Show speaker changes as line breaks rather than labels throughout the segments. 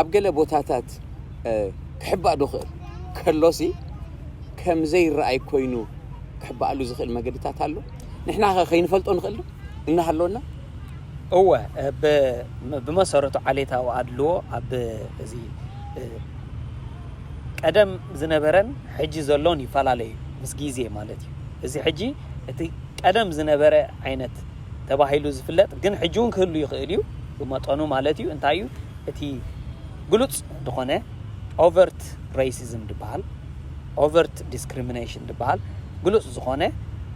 ኣብ ገለ ቦታታት ክሕባእ ዶ ክእል? ከሎሲ ከም ዘይረኣይ ኮይኑ ክሕባኣሉ ዝኽእል መገድታት ኣሎ? ንሕና ከ ከይንፈልጦ ንኽእል ዶ እናሃለወና? እወ
ብመሰረቱ ዓሌታዊ ኣድልዎ ኣብ እዚ ቀደም ዝነበረን ሕጂ ዘሎን ይፈላለዩ ምስ ግዜ ማለት እዩ። እዚ ሕጂ እቲ ቀደም ዝነበረ ዓይነት ተባሂሉ ዝፍለጥ ግን ሕጂ ውን ክህሉ ይኽእል እዩ ብመጠኑ ማለት እዩ እንታይ እዩ እቲ ግሉጽ ድኾነ Overt Racism ድበሃል Overt Discrimination ድበሃል ግሉጽ ዝኾነ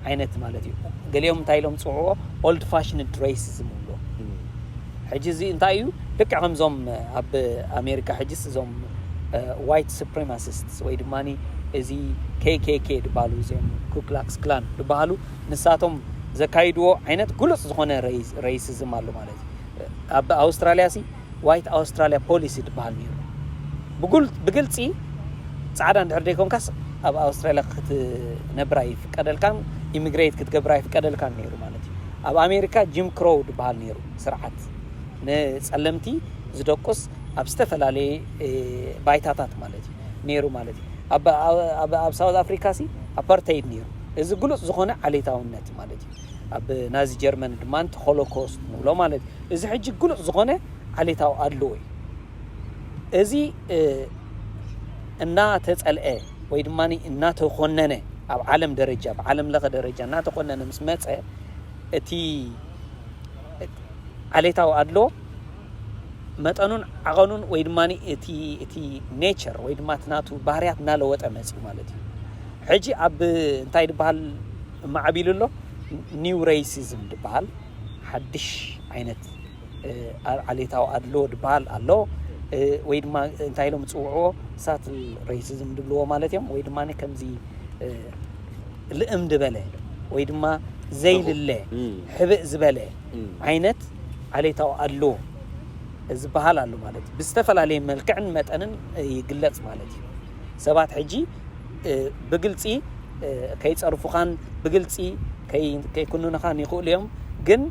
ዓይነት ማለት እዩ ገሊኦም እንታይ ኢሎም ዝጽውዕዎ Old Fashioned Racism ይብልዎ ሕጂ እዚ እንታይ እዩ ልክዕ ከምዞም ኣብ ኣሜሪካ ሕጂስ እዞም White Supremacists ወይ ድማኒ እዚ KKK ድባሉ እዚኦም Ku Klux Klan ድበሃሉ ንሳቶም ዘካይድዎ ዓይነት ግሉጽ ዝኾነ ረይሲዝም ኣሎ ማለት እዩ። ኣብ ኣውስትራልያ ሲ ዋይት ኣውስትራልያ ፖሊሲ ትበሃል ነይሩ ብግልፂ ፃዕዳ እንድሕር ዘይኮንካስ ኣብ ኣውስትራልያ ክትነብር ኣይፍቀደልካን ኢሚግሬት ክትገብር ኣይፍቀደልካን ነይሩ ማለት እዩ ኣብ ኣሜሪካ ጂም ክሮው ዝበሃል ነይሩ ስርዓት ንፀለምቲ ዝደቁስ ኣብ ዝተፈላለየ ባይታታት ማለት እዩ ኔሩ ማለት እዩ። ኣብ ኣብ ኣብ ሳውዝ ኣፍሪካ ሲ ኣፓርተይድ ኔሩ። እዚ ግሉጽ ዝኾነ ዓሌታውነት ማለት እዩ። ኣብ ናዚ ጀርመን ድማ እቲ ሆሎኮስት ንብሎ ማለት እዩ። እዚ ሕጂ ግሉጽ ዝኾነ ዓሌታዊ ኣድልዎ እዩ። እዚ እናተጸልአ ወይ ድማ እናተኾነነ ኣብ ዓለም ደረጃ ብዓለም ለኸ ደረጃ እናተኾነነ ምስ መጸ እቲ ዓሌታዊ ኣድሎ መጠኑን ዓቐኑን ወይ ድማ እቲ እቲ ኔቸር ወይ ድማ እቲ ናቱ ባህርያት እናለወጠ መፅዩ ማለት እዩ። ሕጂ ኣብ እንታይ ድበሃል ማዕቢሉ ኣሎ ኒው ሬይሲዝም ድበሃል ሓድሽ ዓይነት ዓሌታዊ ኣድልዎ ድበሃል ኣሎ ወይ ድማ እንታይ ኢሎም ዝፅውዕዎ ሳትል ሬይሲዝም ድብልዎ ማለት እዮም ወይ ድማ ከምዚ ልእም ድበለ ወይ ድማ ዘይልለ ሕብእ ዝበለ ዓይነት ዓሌታዊ ኣድልዎ ዝበሃል ኣሎ ማለት እዩ። ብዝተፈላለየ መልክዕን መጠንን ይግለጽ ማለት እዩ። ሰባት ሕጂ ብግልጺ ከይጸርፉኻን ብግልጺ ከይኩንኑኻን ይኽእሉ እዮም ግን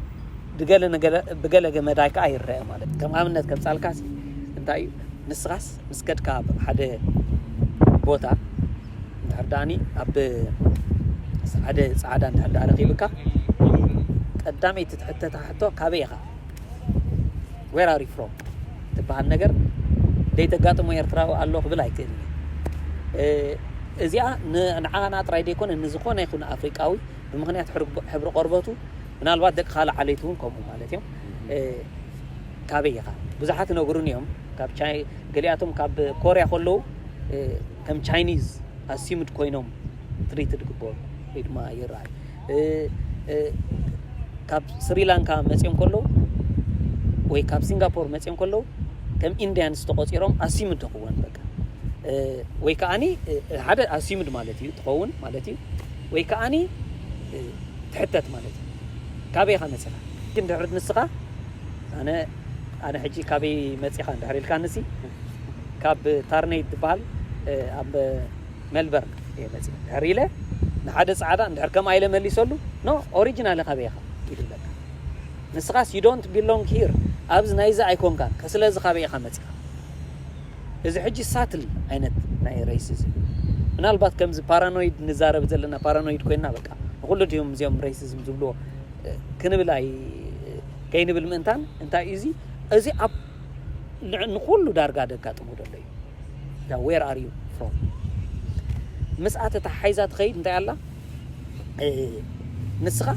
ብገለ መዳይ ከዓ ይረአ ማለት እዩ። ከም ኣብነት ከምጻልካሲ እንታይ እዩ ንስኻስ ምስ ከድካ ኣብ ሓደ ቦታ እንድሕር ደኣኒ ኣብ ሓደ ጻዕዳ እንድሕር ደኣ ረኺብካ ቀዳመይቲ ትሕተታ ሕቶ ካበይ ኢኻ ዌር ኣር ዩ ፍሮም ትበሃል ነገር ዘይተጋጥሞ ኤርትራዊ ኣሎ ክብል ኣይክእልን እዚኣ ንዓና ጥራይ ዘይኮነ ንዝኾነ ይኹን ኣፍሪቃዊ ብምክንያት ሕብሪ ቆርበቱ ምናልባት ደቂ ካልእ ዓሌት እውን ከምኡ ማለት እዮም ካበይ ኢኻ ብዙሓት ይነግሩኒ እዮም ካብ ቻይ ገሊኣቶም ካብ ኮርያ ከለዉ ከም ቻይኒዝ ኣሲምድ ኮይኖም ትሪትድ ክበሩ ወይ ድማ ይረኣዩ ካብ ስሪላንካ መፅኦም ከለዉ ወይ ካብ ሲንጋፖር መፅኦም ከለዉ ከም ኢንዲያንስ ተቆፂሮም ኣሲምድ ተኽወን በቃ ወይ ከዓኒ ሓደ ኣሲምድ ማለት እዩ ትኸውን ማለት እዩ ወይ ከዓኒ ትሕተት ማለት እዩ ካበይኻ መፅኻ ግን ድሕሪ ንስኻ ኣነ ኣነ ሕጂ ካበይ መጺኻ እንድሕር ኢልካንሲ ካብ ታርነይ ትበሃል ኣብ ሜልበርን እየ መጺእ ድሕር ኢለ ንሓደ ጻዕዳ እንድሕር ከምኣ ኢለ መሊሰሉ ኖ ኦሪጂናል ካበይ ኢኻ ኢሉ ኣለካ ንስኻስ ዩ ዶንት ቢሎንግ ሂር ኣብዚ ናይዚ ኣይኮንካን ስለዚ ካበይ ኢኻ መጺኻ እዚ ሕጂ ሳትል ዓይነት ናይ ሬሲዝም ምናልባት ከምዚ ፓራኖይድ ንዛረብ ዘለና ፓራኖይድ ኮይና በቃ ንኩሉ ድዮም እዚኦም ሬሲዝም ዝብልዎ ክንብል ኣይ ከይንብል ምእንታን እንታይ እዩ እዚ እዚ ኣብ ንኹሉ ዳርጋ ደጋጥሞ ደሎ እዩ ዳ ዌር ኣር ዩ ፍሮም ምስኣ ተተሓሒዛ ትኸይድ እንታይ ኣላ ንስኻ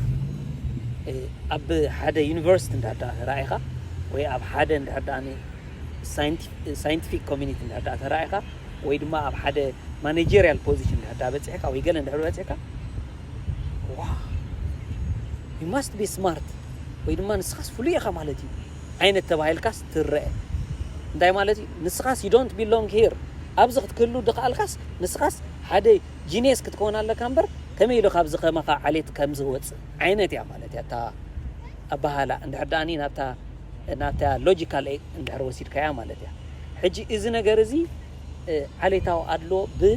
ኣብ ሓደ ዩኒቨርሲቲ እንዳዳ ተራኢኻ ወይ ኣብ ሓደ እንድሕር ደኣ ሳይንቲፊክ ኮሚኒቲ እንድሕር ደኣ ተራኢኻ ወይ ድማ ኣብ ሓደ ማኔጀርያል ፖዚሽን እንድሕር ደኣ በፂሕካ ወይ ገለ እንድሕር በፂሕካ ዋው ዩ ማስት ቢ ስማርት ወይ ድማ ንስኻስ ፍሉይ ኢኻ ማለት ዩ ዓይነት ተባሂልካስ ትረኣ እንታይ ማለት ዩ ንስኻስ ዩ ዶንት ቢሎንግ ሂር ኣብዚ ክትክህሉ ድኻኣልካስ ንስኻስ ሓደ ጂንየስ ክትከውን ኣለካ እምበር ከመይ ኢሉ ካብዚ ከማኻ ዓሌት ከምዚ ክወጽእ ዓይነት እያ ማለት እያ እታ ኣበሃህላ እንድሕር ደኣኒ ናብታ ናብታ ሎጂካል እንድሕር ወሲድካያ ማለት እያ ሕጂ እዚ ነገር እዚ ዓሌታዊ ኣድሎ ብ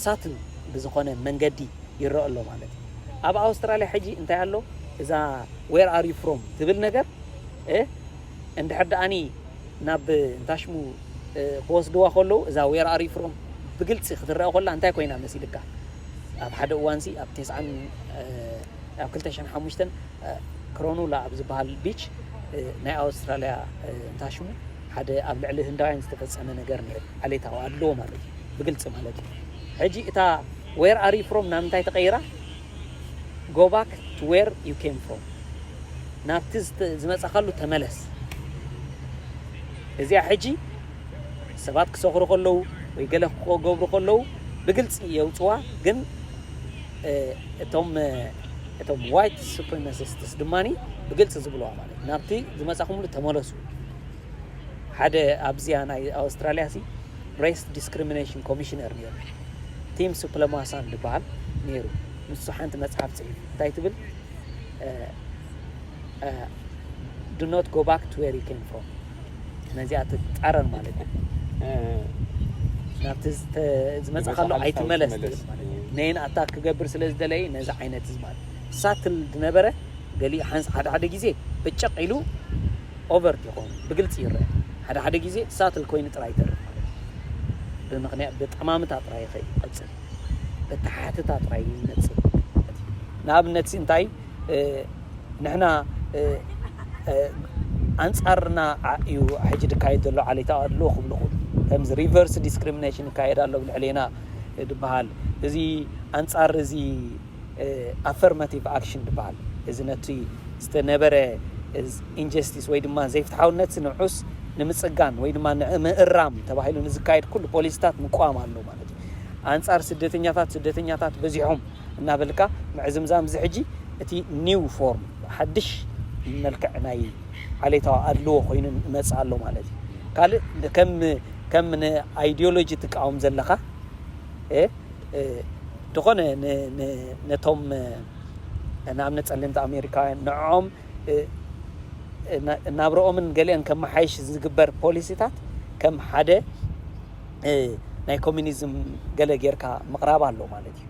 ሳትን ብዝኾነ መንገዲ ይረኣ ኣሎ ማለት እዩ። ኣብ ኣውስትራልያ ሕጂ እንታይ ኣሎ እዛ ዌር ኣር ዩ ፍሮም ትብል ነገር እንድሕር ደኣኒ ናብ እንታሽሙ ክወስድዋ ከለዉ እዛ ዌር ኣር ዩ ፍሮም ብግልፂ ክትረኣ ኮላ እንታይ ኮይና መሲልካ ኣብ ሓደ እዋንሲ ኣብ ቴስዓን ኣብ ክልተ ሽሕን ሓሙሽተን ክሮኑላ ኣብ ዝበሃል ቢች ናይ ኣውስትራልያ እንታይ ሽሙ ሓደ ኣብ ልዕሊ ህንዳውያን ዝተፈጸመ ነገር ነይሩ ዓሌታዊ ኣድልዎ ማለት እዩ ብግልፂ ማለት እዩ ሕጂ እታ ዌር ኣር ዩ ፍሮም ናብ እንታይ ተቐይራ ጎ ባክ ቱ ዌር ዩ ኬም ፍሮም ናብቲ ዝመጻኻሉ ተመለስ እዚኣ ሕጂ ሰባት ክሰኽሩ ከለዉ ወይ ገለ ክገብሩ ከለዉ ብግልጺ የውጽዋ ግን እቶም እቶም ዋይት ሱፕሪማሲስትስ ድማ ብግልጺ ዝብልዋ ማለት ናብቲ ዝመጻኹምሉ ተመለሱ ሓደ ኣብዚያ ናይ ኣውስትራልያ ሲ ሬስ ዲስክሪሚኔሽን ኮሚሽነር ነይሩ ቲም ሱፕለማሳን ዝበሃል ነይሩ ንሱ ሓንቲ መጽሓፍ ጽሒፉ እንታይ ትብል ዱ ኖት ጎ ባክ ቱ ዌር ዩ ኬም ፍሮም ነዚኣ ትጻረር ማለት እዩ ናብቲ ዝመጽእካሉ ኣይትመለስ ነይን ኣታክ ክገብር ስለ ዝደለየ ነዚ ዓይነት እዚ ማለት ሳትል ዝነበረ ገሊ ሓንስ ሓደ ሓደ ግዜ ብጨቕ ኢሉ ኦቨርት ይኸውን ብግልፂ ይረአ ሓደ ሓደ ግዜ ሳትል ኮይኑ ጥራይ ይተርፍ ማለት እዩ ብምክንያት ብጠማምታ ጥራይ ይኸይድ ይቐፅል በተሓትታ ጥራይ ይነፅል ንኣብነት እንታይ ንሕና ኣንጻርና እዩ ሕጂ ድካየድ ዘሎ ዓሌታዊ ኣድልዎ ክብሉ ክብሉ ከምዚ ሪቨርስ ዲስክሪሚኔሽን ይካየድ ኣሎ ኣብ ልዕሌና ድበሃል እዚ ኣንጻር እዚ ኣፈርማቲቭ ኣክሽን ድበሃል እዚ ነቲ ዝተነበረ ኢንጀስቲስ ወይ ድማ ዘይፍትሓውነት ንዑስ ንምጽጋን ወይ ድማ ንምእራም ተባሂሉ ንዝካየድ ኩሉ ፖሊሲታት ምቋም ኣሎ ማለት እዩ ኣንጻር ስደተኛታት ስደተኛታት በዚሖም እናበልካ ምዕዝምዛም እዚ ሕጂ እቲ ኒው ፎርም ሓድሽ መልክዕ ናይ ዓሌታዊ ኣድልዎ ኮይኑ ይመጽእ ኣሎ ማለት እዩ ካልእ ከም ከም ን ኣይድዮሎጂ ትቃወም ዘለኻ እ ድኾነ ን ን ነቶም ንኣብነት ጸለምቲ ኣሜሪካውያን ንዕኦም ናብርኦምን ገሊኦን ከመሓይሽ ዝግበር ፖሊሲታት ከም ሓደ ናይ ኮሚኒዝም ገለ ጌርካ ምቕራብ ኣሎ ማለት እዩ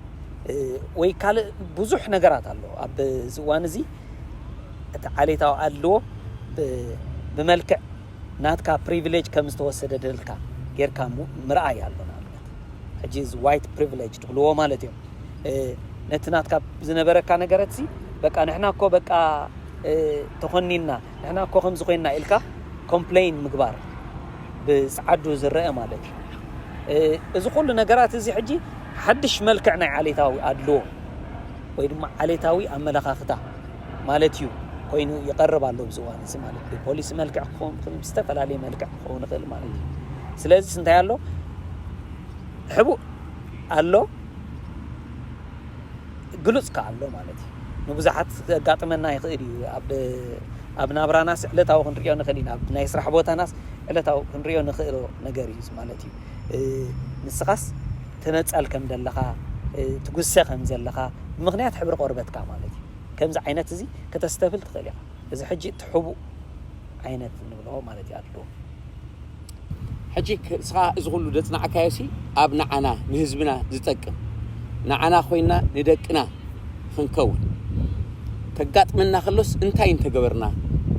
ወይ ካልእ ብዙሕ ነገራት ኣሎ ኣብ እዚ እዋን እዚ እቲ ዓሌታዊ ኣድልዎ ብመልክዕ ናትካ ፕሪቪሌጅ ከም ዝተወሰደ ደልካ ጌርካ ምርኣይ ኣሎ ንኣብነት ሕጂ እዚ ዋይት ፕሪቪሌጅ ትብልዎ ማለት እዮም ነቲ ናትካ ዝነበረካ ነገረት ሲ በቃ ንሕና እኮ በቃ ተኾኒና ንሕና እኮ ከምዚ ኮይንና ኢልካ ኮምፕለይን ምግባር ብጸዓዱ ዝረኣ ማለት እዩ። እዚ ኩሉ ነገራት እዚ ሕጂ ሓድሽ መልክዕ ናይ ዓሌታዊ ኣድልዎ ወይ ድማ ዓሌታዊ ኣመለኻኽታ ማለት እዩ ኮይኑ ይቀርብ ኣሎ ኣብዚ እዋን እዚ ማለት ብፖሊሲ መልክዕ ክኸውን ይኽእል ብዝተፈላለየ መልክዕ ክኸውን ይኽእል ማለት እዩ ስለዚስ እንታይ ኣሎ ሕቡእ ኣሎ ግሉጽ ከኣ ኣሎ ማለት እዩ። ንብዙሓት ከጋጥመና ይኽእል እዩ። ኣብ ኣብ ናብራናስ ዕለታዊ ክንሪኦ ንኽእል ኢና። ኣብ ናይ ስራሕ ቦታናስ ዕለታዊ ክንሪኦ ንኽእሎ ነገር እዩ ማለት እዩ። ንስኻስ ትነጸል ከም ዘለኻ ትጉሰ ከም ዘለኻ ብምኽንያት ሕብሪ ቆርበትካ ማለት እዩ። ከምዚ ዓይነት እዚ ከተስተብል ትኽእል ኢኻ። እዚ ሕጂ እቲ ሕቡእ ዓይነት ንብሎ ማለት እዩ ኣድልዎ።
ሕጂ እስኻ እዚ ኩሉ ዘጽናዕካዮሲ ኣብ ንዓና ንህዝብና ዝጠቅም ንዓና ኮይና ንደቅና ክንከውን ከጋጥመና ከሎስ እንታይ እንተገበርና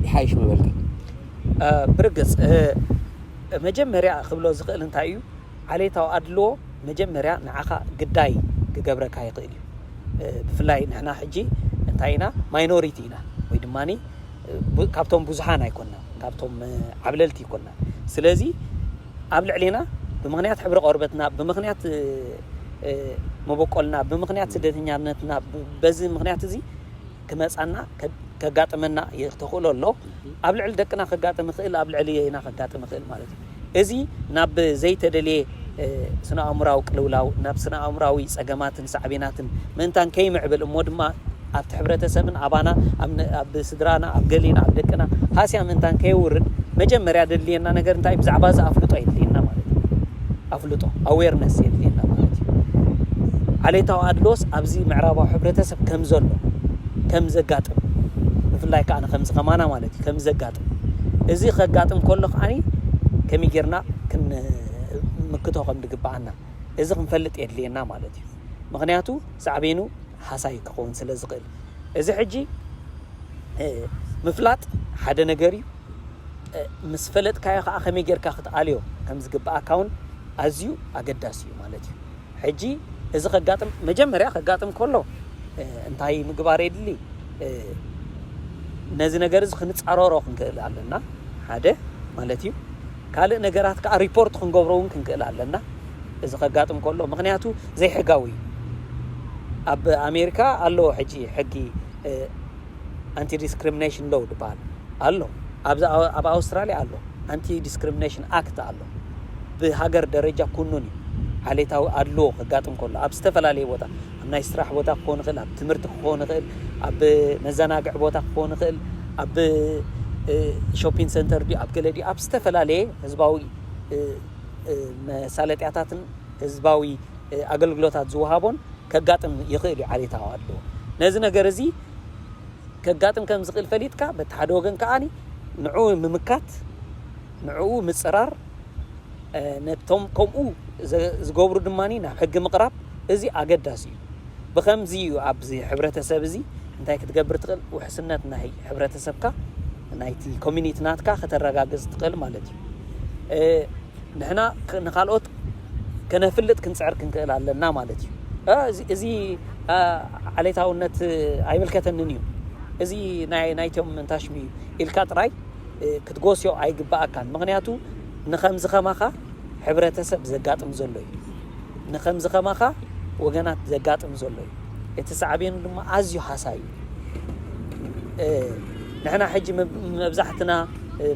ይሓይሽ ምበልካ? ብርግጽ መጀመርያ ክብሎ ዝኽእል እንታይ እዩ ዓሌታዊ ኣድልዎ መጀመርያ ንዓኻ ግዳይ ክገብረካ ይኽእል እዩ። ብፍላይ ንሕና ሕጂ እንታይ ኢና ማይኖሪቲ ኢና ወይ ድማ ካብቶም ብዙሓን ኣይኮና ካብቶም ዓብለልቲ ይኮና ስለዚ ኣብ ልዕሌና ብምኽንያት ሕብሪ ቆርበትና ብምኽንያት መበቆልና ብምኽንያት ስደተኛነትና በዚ ምኽንያት እዚ ክመጻና ከጋጥመና ተኽእሎ ኣሎ ኣብ ልዕሊ ደቅና ከጋጥም ይኽእል ኣብ ልዕሊ የና ከጋጥም ይኽእል ማለት እዩ እዚ ናብ ዘይተደልየ ስነ ኣእምራዊ ቅልውላው ናብ ስነ ኣእምራዊ ጸገማትን ሳዕቤናትን ምእንታን ከይምዕብል እሞ ድማ ኣብቲ ሕብረተሰብን ኣባና ኣብ ስድራና ኣብ ገሌና ኣብ ደቅና ሃስያ ምእንታን ከየውርድ መጀመርያ ደድልየና ነገር እንታይ ብዛዕባ እዚ ኣፍልጦ የድልየና ማለት እዩ ኣፍልጦ ኣዌርነስ የድልየና ማለት እዩ ዓሌታዊ ኣድሎስ ኣብዚ ምዕራባዊ ሕብረተሰብ ከም ዘሎ ከም ዘጋጥም ብፍላይ ከዓ ከምዚ ከማና ማለት እዩ ከም ዘጋጥም እዚ ከጋጥም ከሎ ከዓኒ ከመይ
ጌርና ክንምክቶ ከም ዝግብኣና እዚ ክንፈልጥ የድልየና ማለት እዩ ምክንያቱ ሳዕቤኑ ሃሳዪ ክኸውን ስለ ዝኽእል እዚ ሕጂ ምፍላጥ ሓደ ነገር እዩ። ምስ ፈለጥካዮ ከኣ ከመይ ጌርካ ክትኣልዮ ከም ዝግብኣካ ውን ኣዝዩ ኣገዳሲ እዩ ማለት እዩ። ሕጂ እዚ ከጋጥም መጀመርያ ከጋጥም ከሎ እንታይ ምግባር የድሊ? ነዚ ነገር እዚ ክንጻረሮ ክንክእል ኣለና ሓደ ማለት እዩ። ካልእ ነገራት ከኣ ሪፖርት ክንገብሮ ውን ክንክእል ኣለና እዚ ከጋጥም ከሎ ምክንያቱ ዘይሕጋዊ እዩ ኣብ ኣሜሪካ ኣሎ ሕጂ ሕጊ ኣንቲ ዲስክሪሚኔሽን ሎው ዝበሃል ኣሎ ኣብዚ ኣብ ኣውስትራሊያ ኣሎ ኣንቲ ዲስክሪሚኔሽን ኣክት ኣሎ ብሃገር ደረጃ ኩኑን እዩ ዓሌታዊ ኣድልዎ ከጋጥም ከሎ ኣብ ዝተፈላለየ ቦታ ኣብ ናይ ስራሕ ቦታ ክኸውን ይኽእል፣ ኣብ ትምህርቲ ክኸውን ይኽእል፣ ኣብ መዘናግዒ ቦታ ክኸውን ይኽእል፣ ኣብ ሾፒን ሰንተር ድዩ ኣብ ገለ ድዩ ኣብ ዝተፈላለየ ህዝባዊ መሳለጥያታትን ህዝባዊ ኣገልግሎታት ዝወሃቦን ከጋጥም ይኽእል እዩ ዓሌታዊ ኣድልዎ ነዚ ነገር እዚ ከጋጥም ከም ዝኽእል ፈሊጥካ በቲ ሓደ ወገን ከዓኒ ንዑ ምምካት ንዕኡ ምጽራር፣ ነቶም ከምኡ ዝገብሩ ድማ ናብ ሕጊ ምቕራብ፣ እዚ ኣገዳሲ እዩ። ብኸምዚ እዩ ኣብዚ ሕብረተሰብ እዚ እንታይ ክትገብር ትኽእል፣ ውሕስነት ናይ ሕብረተሰብካ፣ ናይቲ ኮሚኒቲ ናትካ ከተረጋግጽ ትኽእል ማለት እዩ። ንሕና ንኻልኦት ከነፍልጥ ክንጽዕር ክንክእል ኣለና ማለት እዩ። እዚ ዓሌታውነት ኣይምልከተንን እዩ እዚ ናይቶም እንታሽሚ ኢልካ ጥራይ ክትጎስዮ ኣይግበኣካን ምክንያቱ ንከምዚ ከማካ ሕብረተሰብ ዘጋጥም ዘሎ እዩ ንከምዚ ከማካ ወገናት ዘጋጥም ዘሎ እዩ እቲ ሳዕቤኑ ድማ ኣዝዩ ሃሳይ እዩ ንሕና ሕጂ መብዛሕትና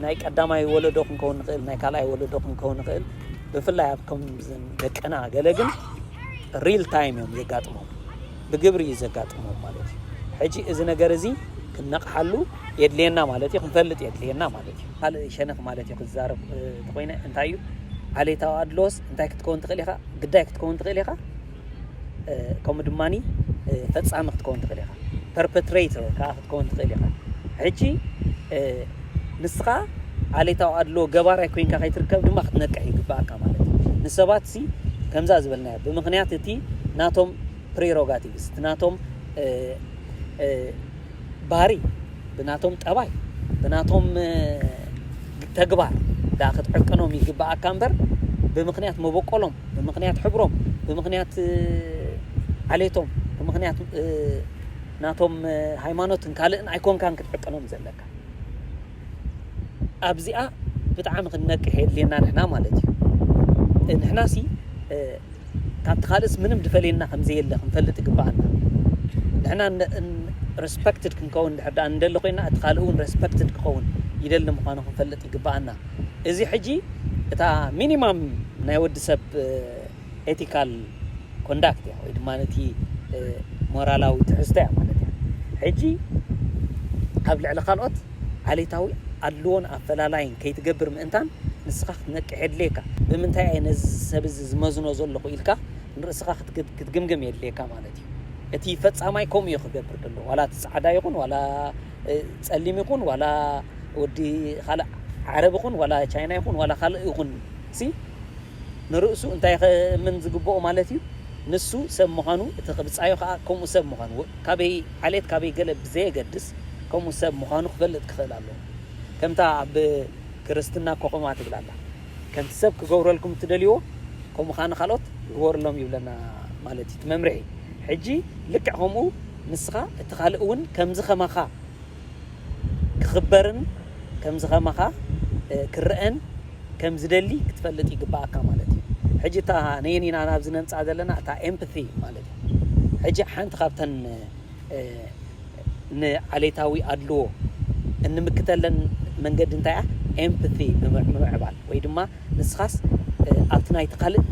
ናይ ቀዳማይ ወለዶ ክንከውን ንኽእል ናይ ካልኣይ ወለዶ ክንከውን ንኽእል ብፍላይ ኣብ ከምዘን ደቅና ገለ ግን ሪል ታይም እዮም ዘጋጥሞም ብግብሪ እዩ ዘጋጥሞም ማለት እዩ። ሕጂ እዚ ነገር እዚ ክንነቕሓሉ የድልየና ማለት እዩ፣ ክንፈልጥ የድልየና ማለት እዩ። ካልእ ሸነኽ ማለት እዩ ክዛረብ ተኾይነ እንታይ እዩ ዓሌታዊ ኣድሎስ እንታይ ክትከውን ትኽእል ኢኻ፣ ግዳይ ክትከውን ትኽእል ኢኻ፣ ከምኡ ድማኒ ፈጻሚ ክትከውን ትኽእል ኢኻ፣ ፐርፐትሬተር ከዓ ክትከውን ትኽእል ኢኻ። ሕጂ ንስኻ ዓሌታዊ ኣድሎ ገባራይ ኮይንካ ከይትርከብ ድማ ክትነቅሕ ይግባኣካ ማለት እዩ። ንሰባት ሲ ከምዛ ዝበልናዮ ብምክንያት እቲ ናቶም ፕሪሮጋቲቭስ እቲ ናቶም ባህሪ ብናቶም ጠባይ ብናቶም ተግባር ዳኣ ክትዕቅኖም ይግብኣካ እምበር ብምክንያት መበቆሎም ብምክንያት ሕብሮም ብምክንያት ዓሌቶም ብምክንያት ናቶም ሃይማኖትን ካልእን ኣይኮንካን ክትዕቅኖም ዘለካ ኣብዚኣ ብጣዕሚ ክንነቅሕ የድልየና ንሕና ማለት እዩ ንሕና ሲ ካብቲ ካልእስ ምንም ድፈልየና ከምዘየለ ክንፈልጥ ይግባኣና ንሕና ረስፐክትድ ክንከውን ድሕር ዳኣ ንደሊ ኮይና እቲ ካልእ እውን ረስፐክትድ ክኸውን ይደሊ ምዃኑ ክንፈልጥ ይግባኣና እዚ ሕጂ እታ ሚኒማም ናይ ወዲ ሰብ Ethical Conduct እያ ወይ ድማ እቲ ሞራላዊ ትሕዝቶ እያ ማለት እያ። ሕጂ ኣብ ልዕሊ ካልኦት ዓሌታዊ ኣድልዎን ኣፈላላይን ከይትገብር ምእንታን ንስኻ ክትነቅሕ የድልየካ። ብምንታይ እየ ነዚ ሰብ እዚ ዝመዝኖ ዘለኹ ኢልካ ንርእስኻ ክትግምግም የድልየካ ማለት እዩ። እቲ ፈጻማይ ከምኡ እዩ ክገብር ደሎ ዋላ እቲ ጻዕዳ ይኹን ዋላ ጸሊም ይኹን ዋላ ወዲ ካልእ ዓረብ ይኹን ዋላ ቻይና ይኹን ዋላ ካልእ ይኹን ሲ ንርእሱ እንታይ ኸእምን ዝግብኦ ማለት እዩ? ንሱ ሰብ ምዃኑ፣ እቲ ኽብጻዮ ኸኣ ከምኡ ሰብ ምዃኑ፣ ካበይ ዓሌት ካበይ ገለ ብዘየገድስ ከምኡ ሰብ ምዃኑ ክፈልጥ ክኽእል ኣለዎ። ከምታ ኣብ ክርስትና እኮ ከምኣ ትብል ኣላ፣ ከምቲ ሰብ ክገብረልኩም እትደልይዎ ከምኡ ኸኣ ንኻልኦት ግበሩሎም ይብለና ማለት እዩ እቲ መምርሒ። ሕጂ ልክዕ ከምኡ ንስኻ እቲ ኻልእ እውን ከምዚ ኸማኻ። ክኽበርን ከምዚ ከማኻ ክረኣን ከም ዝደሊ ክትፈልጥ ይግባኣካ ማለት እዩ። ሕጂ እታ ነየን ኢና ናብዚ ነምጽኣ ዘለና እታ ኤምፕቲ ማለት እዩ። ሕጂ ሓንቲ ካብተን ንዓሌታዊ ኣድልዎ እንምክተለን መንገዲ እንታይ እያ? ኤምፕቲ ብምምዕባል ወይ ድማ ንስኻስ ኣብቲ ናይቲ ካልእ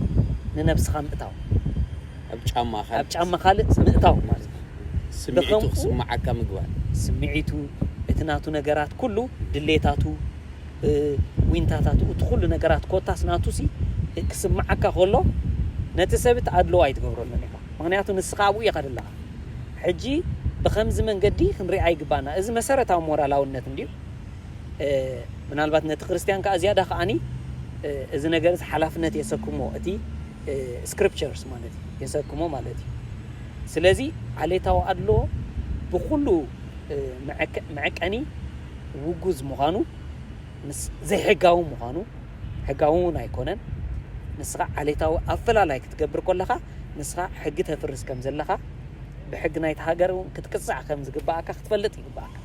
ንነብስኻ ምእታው ኣብ ጫማ ካልእ ኣብ ጫማ ካልእ ሰብ ምእታው ምእታው ማለት እዩ። ስምዒቱ ብኸምኡ
ክስምዓካ ምግባር። ስምዒቱ፣
እቲ ናቱ ነገራት ኩሉ ድሌታቱ፣ እ፣ ዊንታታቱ፣ እቲ ኩሉ ነገራት ኮታስ ናቱሲ እ፣ ክስምዓካ ከሎ ነቲ ሰብ እቲ ኣድልዎ ኣይትገብረሉን ኢኻ። ምኽንያቱ ንስኻ ኣብኡ ኢኻ ደለኻ። ሕጂ ብኸምዚ መንገዲ ክንሪኣ ይግብኣና። እዚ መሰረታዊ ሞራላውነት እንድዩ። እ፣ ምናልባት ነቲ ክርስትያን ከኣ ዝያዳ ከኣኒ እ፣ እዚ ነገርዚ ሓላፍነት የሰክሞ። እቲ ስክሪፕቸርስ ማለት እዩ የሰክሞ ማለት እዩ ስለዚ ዓሌታዊ ኣድሎ ብኩሉ መዐቀኒ ውጉዝ ምዃኑ ምስ ዘይሕጋዊ ምዃኑ ሕጋዊ እውን ኣይኮነን ንስኻ ዓሌታዊ ኣፈላላይ ክትገብር ኮለኻ ንስኻ ሕጊ ተፍርስ ከም ዘለኻ ብሕጊ ናይቲ ሃገር እውን ክትቅፃዕ ከም ዝግባኣካ ክትፈልጥ ይግባኣካ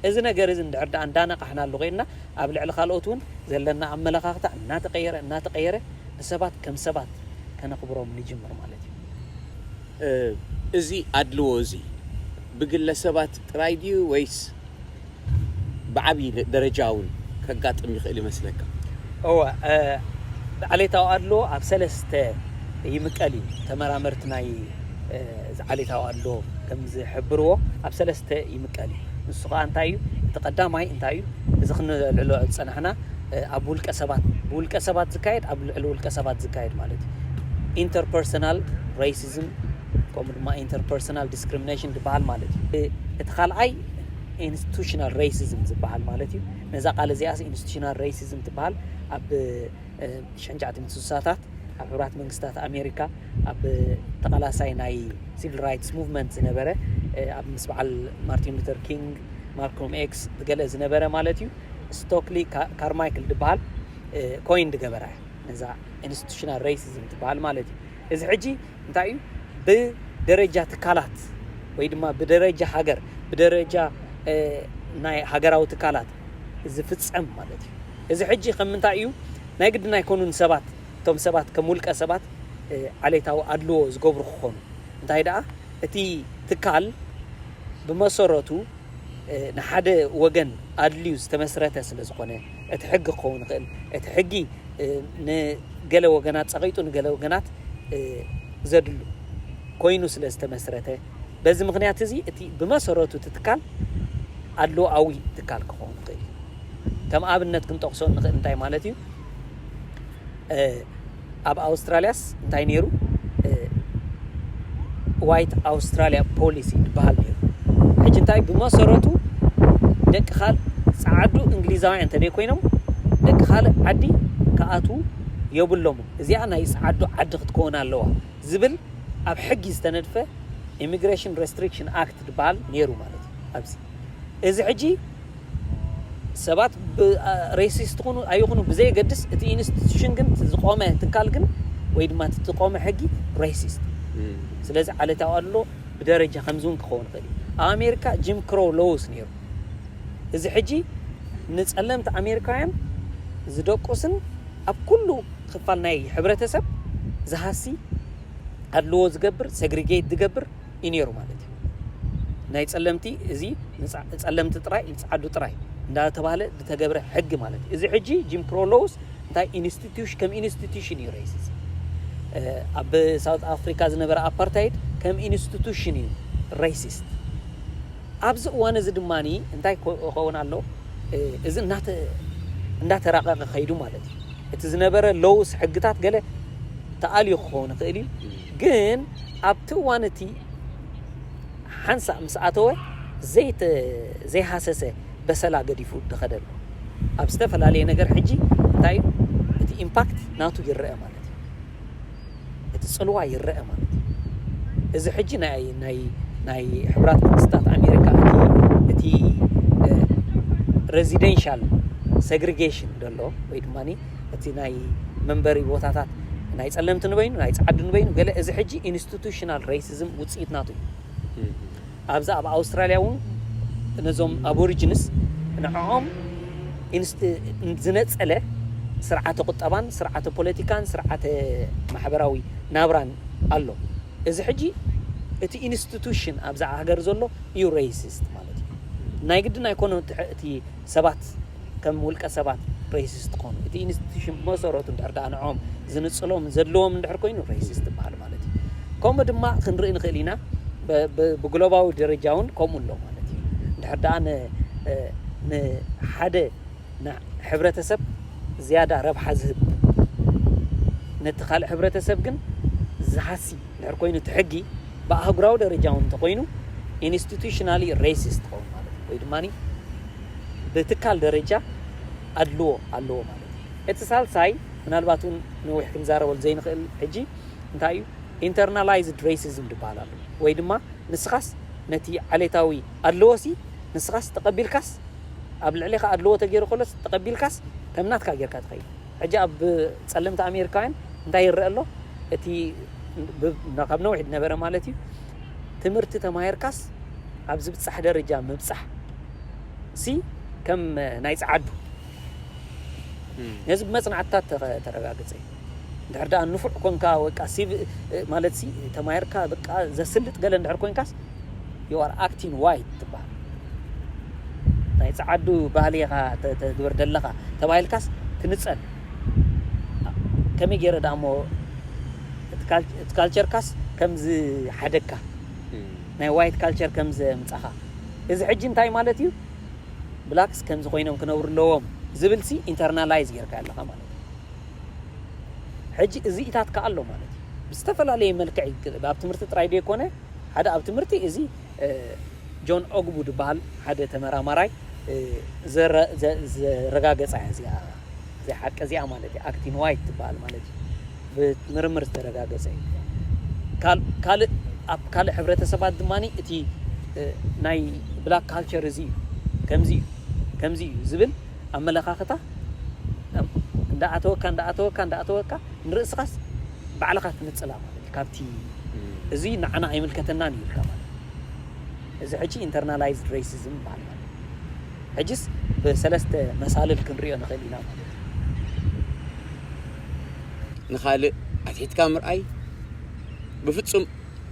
እዚ ነገር እዚ እንድሕር ዳኣ እንዳነቃሕናሉ ኮይንና ኣብ ልዕሊ ካልኦት እውን ዘለና ኣመለኻኽታ እናተቀየረ እናተቀየረ ንሰባት ከም ሰባት ከነኽብሮም ንጅምር ማለት እዩ። እዚ
ኣድልዎ እዚ ብግለሰባት ጥራይ ድዩ ወይስ ብዓቢ ደረጃ እውን ከጋጥም ይኽእል ይመስለካ? እወ፣ ዓሌታዊ ኣድልዎ ኣብ ሰለስተ ይምቀል እዩ። ተመራመርቲ ናይ እዚ ዓሌታዊ ኣድልዎ ከም ዝሕብርዎ ኣብ ሰለስተ ይምቀል እዩ። ንሱ ኸኣ እንታይ እዩ? እቲ ቀዳማይ እንታይ እዩ? እዚ ክነልዕሎ ዝጸናሕና ኣብ ውልቀ ሰባት ብውልቀ ሰባት ዝካየድ ኣብ ልዕሊ ውልቀ ሰባት ዝካየድ ማለት እዩ ኢንተርፐርሰናል ሬሲዝም ከምኡ ድማ ኢንተርፐርሰናል ዲስክሪሚኔሽን ዝበሃል ማለት እዩ እቲ ካልኣይ ኢንስቲቱሽናል ሬሲዝም ዝበሃል ማለት እዩ ነዛ ቃል እዚኣስ ኢንስቲቱሽናል ሬሲዝም ትበሃል ኣብ ሸንጫዕቲ ምትስሳታት ኣብ ሕብራት መንግስታት ኣሜሪካ ኣብ ተቓላሳይ ናይ ሲቪል ራይትስ ሙቭመንት ዝነበረ ኣብ ምስ በዓል ማርቲን ሉተር ኪንግ ማልኮም ኤክስ ዝገለ ዝነበረ ማለት እዩ ስቶክሊ ካርማይክል ድበሃል ኮይን ድገበራ እዩ ነዛ ኢንስቲቱሽናል ሬሲዝም ትበሃል ማለት እዩ እዚ ሕጂ እንታይ እዩ ብደረጃ ትካላት ወይ ድማ ብደረጃ ሃገር ብደረጃ ናይ ሃገራዊ ትካላት ዝፍፀም ማለት እዩ እዚ ሕጂ ከም ምንታይ እዩ ናይ ግድን ኣይኮኑን ሰባት እቶም ሰባት ከም ውልቀ ሰባት ዓሌታዊ ኣድልዎ ዝገብሩ ክኾኑ እንታይ ደኣ እቲ ትካል ብመሰረቱ ንሓደ ወገን ኣድልዩ ዝተመስረተ ስለ ዝኾነ እቲ ሕጊ ክኸውን ይኽእል እቲ ሕጊ ንገለ ወገናት ጸቂጡ ንገለ ወገናት ዘድሉ ኮይኑ ስለ ዝተመስረተ በዚ ምክንያት እዚ እቲ ብመሰረቱ እቲ ትካል ኣድልዎኣዊ ትካል ክኸውን ይኽእል እዩ ከም ኣብነት ክንጠቕሶ እንኽእል እንታይ ማለት እዩ ኣብ ኣውስትራልያስ እንታይ ነይሩ ዋይት ኣውስትራልያ ፖሊሲ ዝበሃል ነይሩ ሕጂ እንታይ ብመሰረቱ ደቂ ካል ጸዓዱ እንግሊዛውያን እንተደይ ኮይኖም ደቂ ካልእ ዓዲ ክኣትዉ የብሎሙ እዚኣ ናይ ጸዓዱ ዓዲ ክትከውን ኣለዋ ዝብል ኣብ ሕጊ ዝተነድፈ ኢሚግሬሽን ሬስትሪክሽን ኣክት ዝበሃል ነይሩ ማለት እዩ ኣብዚ እዚ ሕጂ ሰባት ብ ሬሲስት ኩኑ ኣይኹኑ ብዘየገድስ እቲ ኢንስቲቱሽን ግን እቲ ዝቆመ ትካል ግን ወይ ድማ እቲ ዝቆመ ሕጊ ሬሲስት እዩ። ስለዚ ዓለታዊ ኣድሎ ብደረጃ ከምዚ እውን ክኸውን ይኽእል እዩ። ኣብ ኣሜሪካ ጂም ክሮው ሎውስ ነይሩ። እዚ ሕጂ ንጸለምቲ ኣሜሪካውያን ዝደቁስን ኣብ ኩሉ ክፋል ናይ ሕብረተሰብ ዝሃሲ ኣድልዎ ዝገብር ሰግሪጌት ዝገብር እዩ ነይሩ ማለት እዩ። ናይ ጸለምቲ እዚ ጸለምቲ ጥራይ ይጽዓዱ ጥራይ እንዳተባህለ ዝተገብረ ሕጊ ማለት እዩ። እዚ ሕጂ ጂም ክሮ ሎውስ እንታይ ኢንስቲትዩሽን ከም ኢንስቲትዩሽን እዩ ሬሲዝም ኣብ ሳውት ኣፍሪካ ዝነበረ ኣፓርታይድ ከም ኢንስቲቱሽን እዩ ሬሲስት። ኣብዚ እዋን እዚ ድማ እንታይ ክኸውን ኣሎ እዚ እንዳተራቐቐ ከይዱ ማለት እዩ። እቲ ዝነበረ ሎውስ ሕግታት ገለ ተኣልዩ ክኸውን ይኽእል እዩ። ግን ኣብቲ እዋን እቲ ሓንሳእ ምስ ኣተወ ዘይሃሰሰ በሰላ ገዲፉ ደኸደ ኣሎ። ኣብ ዝተፈላለየ ነገር ሕጂ እንታይ እዩ እቲ ኢምፓክት ናቱ ይረኣ ማለት እዩ። እቲ ጽልዋ ይረኣ ማለት እዩ። እዚ ሕጂ ናይ ናይ ናይ ሕብራት መንግስታት ኣሜሪካ እቲ እቲ ሬዚደንሻል ሰግሪጌሽን ዘሎ ወይ ድማ እቲ ናይ መንበሪ ቦታታት ናይ ጸለምቲ ንበይኑ ናይ ጸዓዱ ንበይኑ ገለ እዚ ሕጂ ኢንስቲቱሽናል ረይሲዝም ውጽኢት ናቱ እዩ። ኣብዚ ኣብ ኣውስትራልያ እውን ነዞም ኣቦሪጅንስ ንዕኦም ኢንስቲ ዝነጸለ ስርዓተ ቁጠባን ስርዓተ ፖለቲካን ስርዓተ ማሕበራዊ ናብራን ኣሎ። እዚ ሕጂ እቲ ኢንስቲቱሽን ኣብዛ ሃገር ዘሎ እዩ ረይሲስት ማለት እዩ። ናይ ግድን ኣይኮነን እቲ ሰባት ከም ውልቀ ሰባት ሬሲስት ክኾኑ እቲ ኢንስቲቱሽን ብመሰረቱ እንድሕር ደኣ ንዕኦም ዝንጽሎምን ዘድልዎም እንድሕር ኮይኑ ሬሲስት ይበሃል ማለት እዩ። ከምኡ ድማ ክንርኢ ንኽእል ኢና ብግሎባዊ ደረጃ እውን ከምኡ ኣሎ ማለት እዩ። እንድሕር ደኣ ንሓደ ሕብረተሰብ ዝያዳ ረብሓ ዝህብ ነቲ ካልእ ሕብረተሰብ ግን ዝሃሲ እንድሕር ኮይኑ እቲ ሕጊ ብኣህጉራዊ ደረጃ እውን እንተኾይኑ ኢንስቲቱሽናሊ ሬሲስት ትኸውን ማለት እዩ። ወይ ድማ ብትካል ደረጃ ኣድልዎ ኣለዎ ማለት እዩ። እቲ ሳልሳይ ምናልባት
እውን ነዊሕ ክንዛረበሉ ዘይንኽእል ሕጂ እንታይ እዩ ኢንተርናላይዝድ ሬሲዝም ዝበሃል ኣሎ። ወይ ድማ ንስኻስ ነቲ ዓሌታዊ ኣድልዎሲ ንስኻስ ተቐቢልካስ ኣብ ልዕሌኻ ኣድልዎ ተገይሩ ከሎስ ተቐቢልካስ ከም ናትካ ጌርካ ትኸይድ። ሕጂ ኣብ ጸለምቲ ኣሜሪካውያን እንታይ ይረኣ ኣሎ እቲ ካብ ነዊሕ ዝነበረ ማለት እዩ ትምህርቲ ተማሂርካስ ኣብ ዝብጻሕ ደረጃ ምብጻሕ ሲ ከም ናይ ጸዓዱ ነዚ ብመጽናዕትታት ተረጋግጸ እዩ እንድሕር ደኣ ንፉዕ ኮንካ ወይቃ ማለት ሲ ተማሂርካ በቃ ዘስልጥ ገለ እንድሕር ኮንካስ you are acting white ትባሃል ናይ ጸዓዱ ባህሊ ኢኻ ተግብር ደለኻ ተባሂልካስ ክንጸል ከመይ ገይረ ደኣ እሞ እቲ ካልቸርካስ ከም ዝሓደግካ ናይ ዋይት ካልቸር ከም ዘምጻኻ እዚ ሕጂ እንታይ ማለት እዩ ብላክስ ከምዚ ኮይኖም ክነብሩ ኣለዎም ዝብል ሲ ኢንተርናላይዝ ጌርካ ኣለኻ ማለት እዩ ሕጂ እዚኢታት ከኣ ኣሎ ማለት እዩ ብዝተፈላለየ መልክዕ ኣብ ትምህርቲ ጥራይ ዘይኮነ ሓደ ኣብ ትምህርቲ እዚ ጆን ኦግቡ ድበሃል ሓደ ተመራማራይ ዘረጋገጻ እያ እዚኣ እዚኣ ሓቂ እዚኣ ማለት እዩ ኣክቲን ዋይት ትበሃል ማለት እዩ ብምርምር ዝተረጋገጸ እዩ ካልእ ኣብ ካልእ ሕብረተሰባት ድማ እቲ ናይ ብላክ ካልቸር እዚ እዩ ከምዚ እዩ ከምዚ እዩ ዝብል ኣመለኻኽታ እንዳኣተወካ እንዳኣተወካ እንዳኣተወካ ንርእስኻስ ባዕልኻ ትንጽላ ማለት ካብቲ እዙይ ንዓና ኣይምልከተናን እዩ ኢልካ ማለት እዩ። እዚ ሕጂ ኢንተርናላይዝድ ሬሲዝም ይበሃል ማለት እዩ። ሕጂስ ብሰለስተ መሳልል ክንርእዮ ንኽእል ኢና ማለት እዩ።
ንኻልእ ኣትሒትካ ምርኣይ ብፍጹም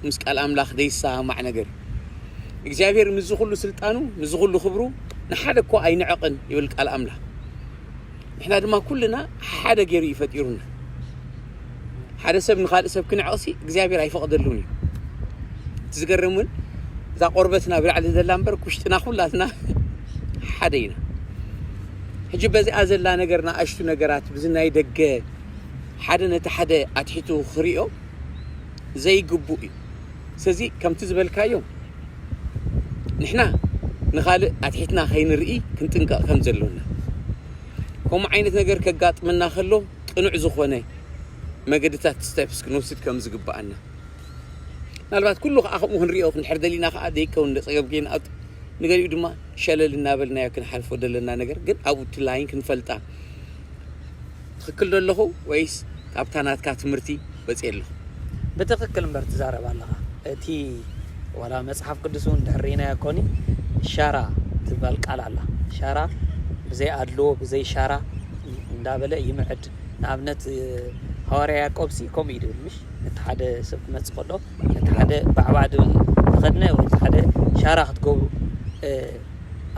ምስ ቃል ኣምላኽ ዘይሰማማዕ ነገር እዩ። እግዚኣብሄር ምስዚ ኹሉ ስልጣኑ ምስዚ ኹሉ ክብሩ ንሓደ እኳ ኣይንዕቕን ይብል ቃል ኣምላኽ። ንሕና ድማ ኩልና ሓደ ገይሩ እዩ ፈጢሩና። ሓደ ሰብ ንካልእ ሰብ ክንዕቕሲ እግዚኣብሔር ኣይፈቕደሉን እዩ። እቲ ዝገርም እውን እዛ ቆርበትና ብላዕሊ ዘላ እምበር ኩሽጥና ኩላትና ሓደ ኢና። ሕጂ በዚኣ ዘላ ነገር ንኣሽቱ ነገራት ብዚ ናይ ደገ ሓደ ነቲ ሓደ ኣትሒቱ ክሪኦ ዘይግቡእ እዩ። ስለዚ ከምቲ ዝበልካዮ ንሕና ንኻልእ ኣትሒትና ከይንርኢ ክንጥንቀቕ ከም ዘሎና ከምኡ ዓይነት ነገር ከጋጥመና ከሎ ቅኑዕ ዝኾነ መገድታት ስቴፕስ ክንወስድ ከም ዝግብኣና ምናልባት ኩሉ ከዓ ከምኡ ክንሪኦ ክንድሕር ደሊና ከዓ ዘይከውን ፀገም ከይንኣቱ ንገሊኡ ድማ ሸለል እናበልናዮ ክንሓልፎ ዘለና ነገር ግን ኣብኡ እቲ ላይን ክንፈልጣ ትክክል ዶ ኣለኩ ወይስ ካብታ ናትካ ትምህርቲ ወጽየ ኣለኩ። ብትክክል
እምበር ትዛረብ ኣለካ እቲ ዋላ መጽሓፍ ቅዱስ ውን እንድሕር ሪኢናዮ ኮኒ ሻራ ትባል ቃል ኣላ ሻራ ብዘይ ኣድልዎ ብዘይ ሻራ እንዳበለ ይምዕድ ንኣብነት ሃዋርያ ያቆብ ሲ ከምኡ እዩ ድብል ምሽ ነቲ ሓደ ሰብ ክመጽእ ከሎ ነቲ ሓደ ባዕባዕ ድብል ተኸድነ ወይ ሓደ ሻራ ክትገብሩ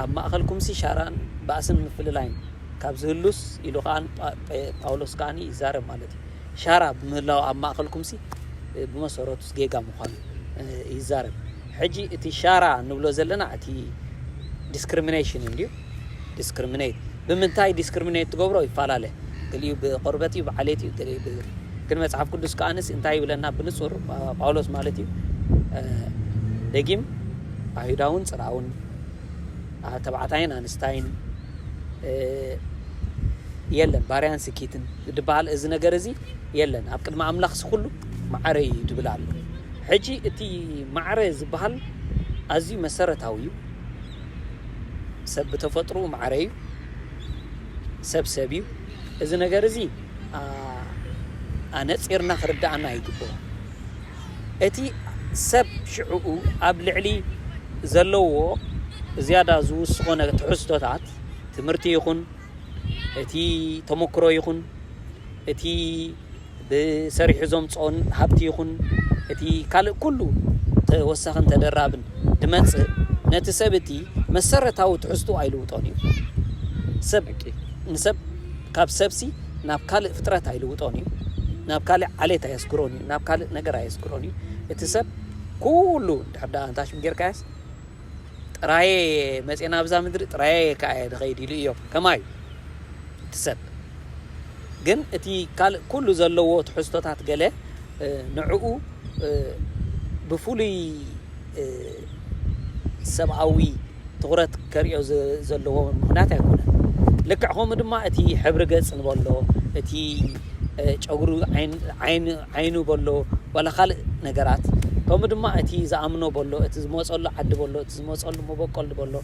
ኣብ ማእከልኩም ሲ ሻራን ባእስን ምፍልላይን ካብ ዝህሉስ ኢሉ ከኣን ጳውሎስ ከኣን ይዛረብ ማለት እዩ ሻራ ብምህላው ኣብ ማእኸልኩምሲ ብመሰረቱስ ጌጋ ምዃኑ ይዛረብ ሕጂ እቲ ሻራ ንብሎ ዘለና እቲ ዲስክሪሚኔሽን እንድዩ ዲስክሪሚኔት ብምንታይ ዲስክሪሚኔት ትገብሮ ይፈላለ ገሊኡ ብቆርበት እዩ ብዓሌት እዩ ገሊኡ ግን መጽሓፍ ቅዱስ ከኣንስ እንታይ ይብለና ብንጹር ጳውሎስ ማለት እዩ ደጊም ኣይሁዳውን ጽርኣውን ተባዕታይን ኣንስታይን የለን ባርያን ስኪትን ድበሃል እዚ ነገር እዚ የለን ኣብ ቅድሚ ኣምላኽሲ ኩሉ ማዕረ እዩ ድብል ኣሎ ሕጂ እቲ ማዕረ ዝበሃል ኣዝዩ መሰረታዊ እዩ ሰብ ብተፈጥሮኡ ማዕረ እዩ ሰብ ሰብ እዩ እዚ ነገር እዚ ኣነፂርና ክርዳኣና ይግብኦ እቲ ሰብ ሽዕኡ ኣብ ልዕሊ ዘለዎ ዝያዳ ዝውስኾ ትሕዝቶታት፣ ትምህርቲ ይኹን እቲ ተመክሮ ይኹን እቲ ብሰሪሑ ዘምጽኦን ሃብቲ ይኹን እቲ ካልእ ኩሉ ተወሳኽን ተደራብን ድመጽእ ነቲ ሰብ እቲ መሰረታዊ ትሕዝትኡ ኣይልውጦን እዩ። ሰብ ንሰብ ካብ ሰብሲ ናብ ካልእ ፍጥረት ኣይልውጦን እዩ። ናብ ካልእ ዓሌት ኣየስግሮን እዩ። ናብ ካልእ ነገር ኣየዝክሮን እዩ እቲ ሰብ ኩሉ ድሕር ዳኣ ኣንታሽም ጌርካያስ ጥራየ መፅና ኣብዛ ምድሪ ጥራየ ከዓ ድኸይድ ኢሉ እዮም ከማዩ እቲ ሰብ ግን እቲ ካልእ ኩሉ ዘለዎ ትሕዝቶታት ገለ ንዕኡ ብፍሉይ ሰብኣዊ ትኹረት ከርእዮ ዘለዎ ምኽንያት ኣይኮነን። ልክዕ ከምኡ ድማ እቲ ሕብሪ ገጽ ንበሎ እቲ ጨጉሪ ዓይኑ በሎ ዋላ ካልእ ነገራት ከምኡ ድማ እቲ ዝኣምኖ በሎ እቲ ዝመጸሉ ዓዲ በሎ እቲ ዝመጸሉ መበቆል በሎ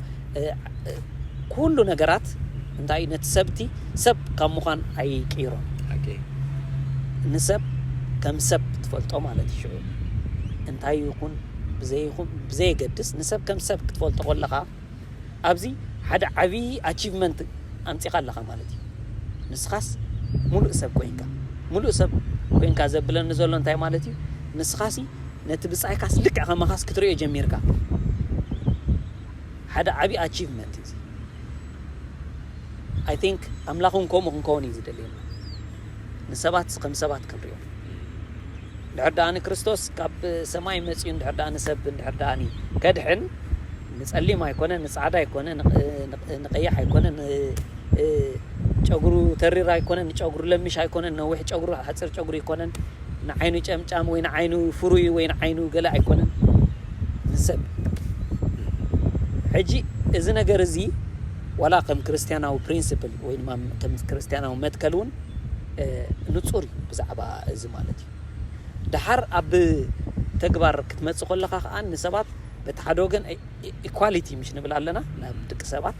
ኩሉ ነገራት እንታይ ነቲ ሰብቲ ሰብ ካብ ምዃን ኣይቅይሮ ንሰብ ከም ሰብ ትፈልጦ ማለት እዩ ሽዑ እንታይ ይኹን ብዘየገድስ ንሰብ ከም ሰብ ክትፈልጦ ከለኻ ኣብዚ ሓደ ዓብዪ ኣቺቭመንት ኣምፂእኻ ኣለኻ ማለት እዩ። ንስኻስ ሙሉእ ሰብ ኮይንካ ሙሉእ ሰብ ኮይንካ ዘብለኒ ዘሎ እንታይ ማለት እዩ? ንስኻሲ ነቲ ብፃይካስ ልክዕ ከማኻስ ክትሪኦ ጀሚርካ ሓደ ዓብዪ ኣቺቭመንት እዩ። ኣይ ቲንክ ኣምላኽ እውን ከምኡ ክንከውን እዩ ዝደልየና ንሰባት ከም ሰባት ክንሪኦም እንድሕር ደኣኒ ክርስቶስ ካብ ሰማይ መጺኡ እንድሕር ደኣኒ ሰብ እንድሕር ደኣኒ ከድሕን ንጸሊም ኣይኮነ ንጻዕዳ ኣይኮነ ንቀያሕ ኣይኮነ ን ጨጉሩ ተሪር ኣይኮነን ንጨጉሩ ለሚሽ ኣይኮነን ነዊሕ ጨጉሩ ሓጽር ጨጉሩ ኣይኮነን ንዓይኑ ጨምጫም ወይ ንዓይኑ ፍሩይ ወይ ንዓይኑ ገለ ኣይኮነን ንሰብ ሕጂ እዚ ነገር እዚ ዋላ ከም ክርስትያናዊ ፕሪንስፕል ወይ ድማ ከም ክርስትያናዊ መትከል እውን ንጹር እዩ ብዛዕባ እዚ ማለት እዩ። ደሓር ኣብ ተግባር ክትመጽእ ኮለኻ ከኣ ንሰባት በቲ ሓደ ወገን ኢኳሊቲ ምሽ ንብል ኣለና ንድቂ ሰባት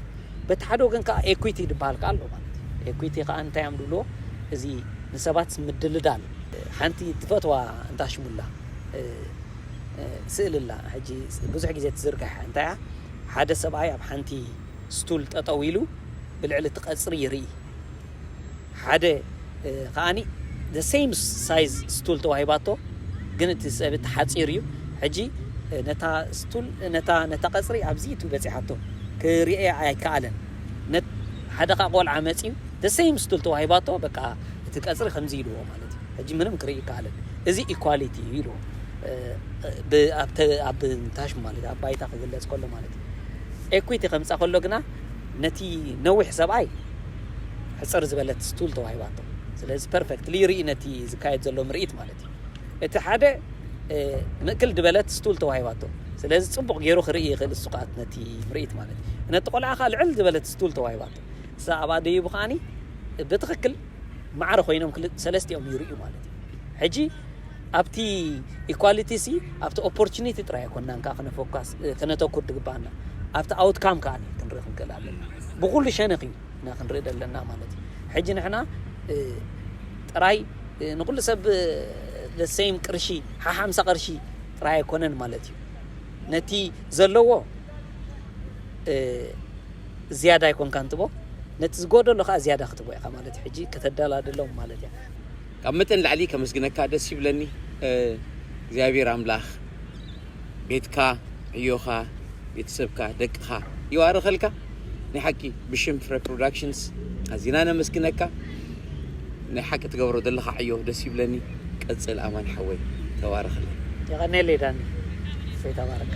በቲ ሓደ ወገን ከኣ ኤኩቲ ድበሃል ከኣ ኣሎ ማለት እዩ። ኤኩቲ ከኣ እንታይ እዮም ድብልዎ እዚ ንሰባት ምድልዳል ሓንቲ ትፈትዋ እንዳሽሙ ኣላ ስእሊ ኣላ ሕጂ ብዙሕ ግዜ ትዝርጋሕ እያ እንታይ እያ ሓደ ሰብኣይ ኣብ ሓንቲ ስቱል ጠጠው ኢሉ ብልዕሊ እቲ ቀጽሪ ይርኢ። ሓደ ከኣ the same size ስቱል ተዋሂባቶ ግን እቲ ጸብት ሓጺር እዩ ሕጂ ነታ ስቱል ነታ ነታ ቀጽሪ ኣብዚ ኢቱ በጺሓቶ ክሪኤያ ኣይከኣለን ነት ሓደ ከኣ ቆልዓ መጺዩ the same ስቱል ተዋሂባቶ በቃ እቲ ቀጽሪ ከምዚ ኢልዎ ማለት እዩ ሕጂ ምንም ክርኢ ይከኣለን እዚ ኢኳሊቲ እዩ ኢልዎ ኣብ ታሽ ማለት ኣብ ባይታ ክግለጽ ከሎ ማለት እዩ ኤኩዊቲ ከምጻ ከሎ ግና ነቲ ነዊሕ ሰብኣይ ሕጽር ዝበለት ስቱል ተዋሂባቶ። ስለዚ ፐርፈክትሊ ይርኢ ነቲ ዝካየድ ዘሎ ምርኢት ማለት እዩ። እቲ ሓደ ምእክል ድበለት ስቱል ተዋሂባቶ። ስለዚ ጽቡቕ ገይሩ ክርኢ ይኽእል እሱ ከኣ ነቲ ምርኢት ማለት እዩ። ነቲ ቆልዓ ከኣ ልዕል ዝበለት ስቱል ተዋሂባቶ። እሳ ኣብኣ ደይቡ ከኣኒ ብትኽክል ማዕረ ኮይኖም ክል ሰለስቲኦም ይርእዩ ማለት እዩ። ሕጂ ኣብቲ ኢኳሊቲ ሲ ኣብቲ ኦፖርቹኒቲ ጥራይ ኣይኮናን ከኣ ክነፎካስ ክነተኩር ድግባኣና ኣብቲ ኣውትካም ከኣ ክንርኢ ክንክእል ኣለና ብኩሉ ሸነኽ እዩ እና ክንርኢ ዘለና ማለት እዩ ሕጂ ንሕና ጥራይ ንኩሉ ሰብ ለሰይም ቅርሺ ሓሓምሳ ቅርሺ ጥራይ ኣይኮነን ማለት እዩ ነቲ ዘለዎ ዝያዳ ኣይኮንካን ትቦ ነቲ ዝጎደሎ ከዓ ዝያዳ ክትቦ ኢኻ ማለት ሕጂ ከተደላድሎም ማለት እያ ካብ መጠን ንላዕሊ
ከመስግነካ ደስ ይብለኒ እግዚኣብሔር ኣምላክ ቤትካ ዕዮካ ቤተሰብካ ደቅካ ይባርኸልካ ናይ ሓቂ ብሽም ፍረ ፕሮዳክሽንስ ኣዚና ነመስግነካ ናይ ሓቂ ትገብሮ ዘለካ ዕዮ ደስ ይብለኒ ቀጽል ኣማን
ሓወይ ተባረኸለይ
የቀኔሌ
ዳኒ ሰይ
ተባረካ